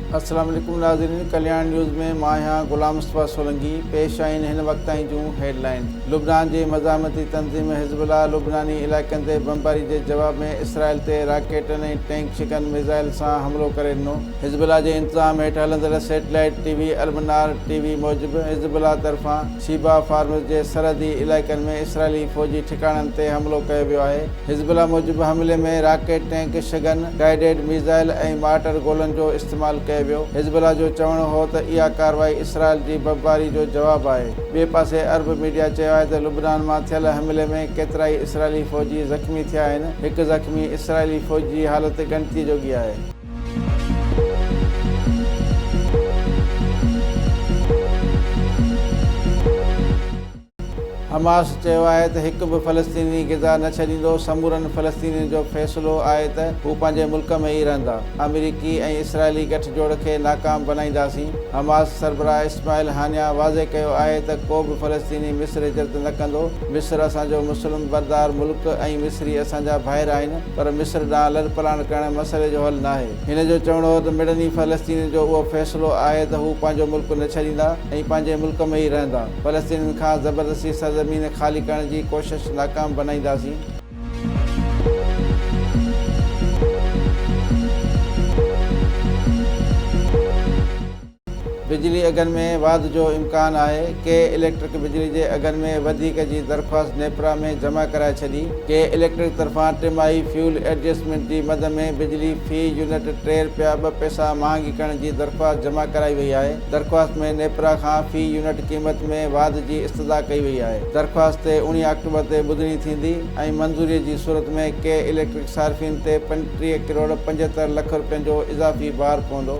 السلام عليڪم ناظرين ڪلياڻ نيوز ۾ مان آهيان غلام مصطفيٰ سولنگي پيش آهن هن وقت تائين جون هيڊ لائين لبنان جي مزاحمتي تنظيم حزب الله لبناني علائقن تي بمباري جي جواب ۾ اسرائيل تي راڪيٽن ۽ ٽينڪ شگن ميزائل سان حملو ڪري ڏنو حزب الله جي انتظام هيٺ هلندڙ سيٽلائيٽ ٽي وي المنار ٽي وي موجب حزب الله طرفان شيبا فارمز جي سرحدي علائقن ۾ اسرائيلي فوجي ٺڪاڻن تي حملو ڪيو ويو آهي حزب الله موجب حملي ۾ راڪيٽ، ٽينڪ، شگن، گائيڊيڊ ميزائل ۽ مارٽر گولن جو استعمال ڪيو ويو. حزب الله جو چوڻ هو ته اها ڪارروائي اسرائيل جي بمباري جو جواب آهي. ٻئي پاسي عرب ميڊيا چيو آهي ته لبنان مان ٿيل حملي ۾ ڪيترائي اسرائيلي فوجي زخمي ٿيا آهن. هڪ زخمي اسرائيلي فوجي جي حالت ڳڻتي جوڳي آهي. حماس چيو آهي ته هڪ به فلسطيني غزا نه ڇڏيندو، سمورن فلسطينين جو فيصلو آهي ته هو پنهنجي ملڪ ۾ ئي رهندا، آمريڪي ۽ اسرائيلي گٺ جوڙ کي ناڪام بنائينداسين، حماس سربراهه اسماعيل هانيا واضح ڪيو آهي ته ڪو به فلسطيني مصر هجرت نه ڪندو، مصر اسان جو مسلم بردار ملڪ ۽ مصري اسان جا ڀائر آهن پر مصر ڏانهن لڏپلاڻ ڪرڻ مسئلي جو حل ناهي. هن جو چوڻو هو ته مڙني فلسطينين جو اهو فيصلو آهي ته هو پنهنجو ملڪ نه ڇڏيندا ۽ پنهنجي ملڪ ۾ ئي رهندا، فلسطينين کان زبردستي سرزمين خالي ڪرڻ جي ڪوشش ناڪام بنائينداسين. بجلي اگهن ۾ واڌ جو امڪان آهي، ڪي اليڪٽرڪ بجلي جي اگهن ۾ وڌيڪ جي درخواست نيپرا ۾ جمع ڪرائي ڇڏي، ڪي اليڪٽرڪ طرفان ٽماهي فيول ايڊجسٽمينٽ جي مد ۾ بجلي في يونٽ ٽي رپيا ٻه پئسا مهانگي ڪرڻ جي درخواست جمع ڪرائي وئي آهي. درخواست ۾ نيپرا کان في يونٽ قيمت ۾ واڌ جي استدعا ڪئي وئي آهي. درخواست اوڻيهه آڪٽوبر تي ٻڌڻي ٿيندي ۽ منظوري جي صورت ۾ ڪي اليڪٽرڪ صارفين تي پنجٽيهه ڪروڙ پنجهتر لک رپين جو اضافي بار پوندو.